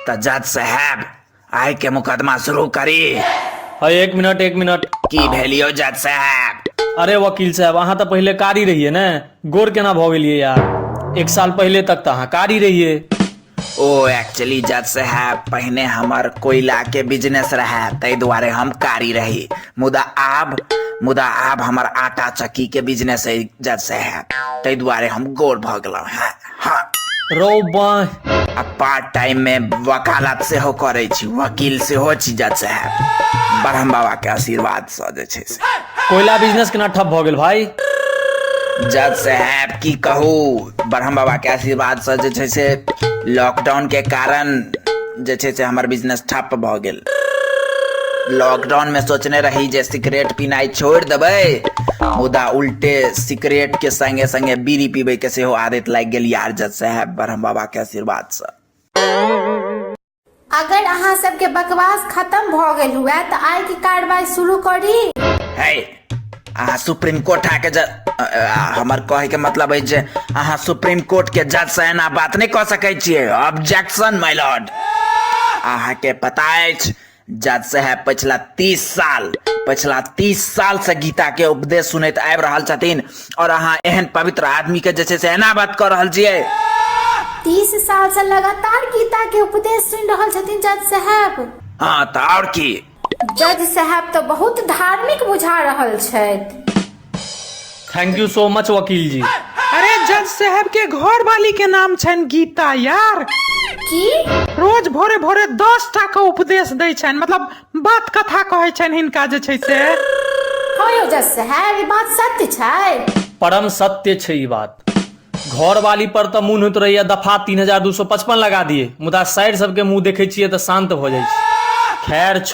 तऽ जज साहब आइ के मुकदमा शुरू करी है एक मिनट एक मिनट की भेलियो जज साहब अरे वकील साहब अहाँ तऽ पहिले कारी रहिए ने गोर केना भऽ गेलियै यार एक साल पहिले तक तऽ अहाँ कारी रहिए ओ एक्चुअली जज साहब पहिने हमर कोयला के बिजनेस रहे ताहि दुआरे हम कारी रही मुदा आब मुदा आब हमर आटा चक्की के बिजनेस है जज साहब ताहि दुआरे हम गोर भऽ गेलहुँ हैं हाँ रौ बाँह आ पार्ट टाइम में वकालत सेहो करै छी वकील सेहो छी जज साहब ब्रह्म बाबा के आशीर्वाद सँ जे छै से कोयला बिजनेस केना ठप भऽ गेल भाई जज साहब की कहू ब्रह्म बाबा के आशीर्वाद सँ जे छै से लॉकडाउन के कारण जे छै से हमर बिजनेस ठप्प भऽ गेल लॉकडाउनमे सोचने रही जे सिगरेट पीनाइ छोड़ि देबै मुदा उल्टे सिगरेटके सङ्गे सङ्गे बीड़ी पीबैके सेहो आदत लागि गेल यार जज साहेब ब्रह्म बाबाके आशीर्वादसँ अगर अहाँ सबके बकवास खत्म भऽ गेल हुए तऽ आइके कार्रवाई शुरू करी है अहाँ सुप्रीम कोर्ट आके जज अ, अ, हमर कहे के मतलब है जे अहाँ सुप्रीम कोर्ट के जज से एना बात नहीं कह सके छिए ऑब्जेक्शन माय लॉर्ड अहाँ के पता अछि जज साहब पिछला तीस साल पिछला तीस साल से गीता के उपदेश सुनैत आबि रहल छथिन और अहाँ एहन पवित्र आदमी के जे छै से एना बात कर रहल छियै तीस साल से लगातार गीता के उपदेश सुनि रहल छथिन जज साहब हाँ तऽ और की जज साहब तऽ बहुत धार्मिक बुझा रहल छथि थैंक यू सो मच वकील जी अरे जज साहब के घर वाली के नाम छनि गीता यार की रोज भोरे भोरे दस टा के उपदेश दै छनि मतलब बात कथा कहै छनि हिनका जे छै से हँ यौ जज साहब ई बात सत्य छै परम सत्य छै ई बात घर वाली पर तऽ मुन होइत रहैया दफा तीन हजार दू सौ पचपन लगा दिए मुदा साइर सबके मुंह देखै छियै तऽ शांत भऽ जाइ छै खैर छो-